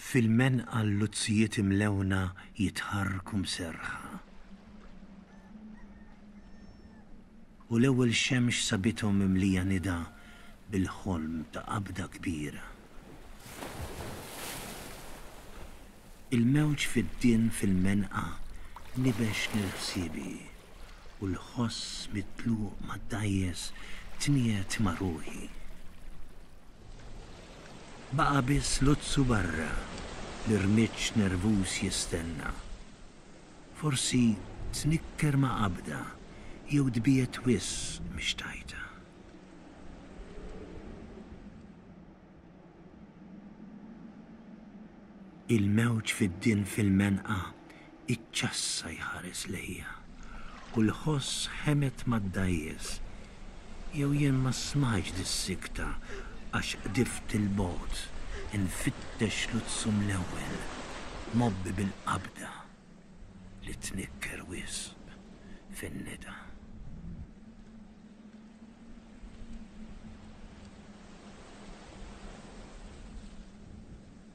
fil-men għal luzzijiet imlewna jitħarrku mserħa. U l-ewwel xemx sabithom mimlija nida bil-ħolm ta' qabda kbira. Il-mewġ fiddien fil-menqa nibex lil ħsiebi u l-ħoss mit-tluq mad-dgħajjes tniegħed ma' ruħi. Baqa' biss Luzzu barra li rmiġġ nervuż jistenna. Forsi tnikker ma' qabda jew tbiegħed wisq mhix tajta. Il-mewġ fid-din fil-menqa iċċassa jħares lejja u l-ħoss ħemet mad-dgħajjes Jew jien ma smajtx dis-sikta għax qdift 'il bogħod infittex Luzum l-ewwel, mgħobbi bil-qabda li tnikker wisq fin-nida.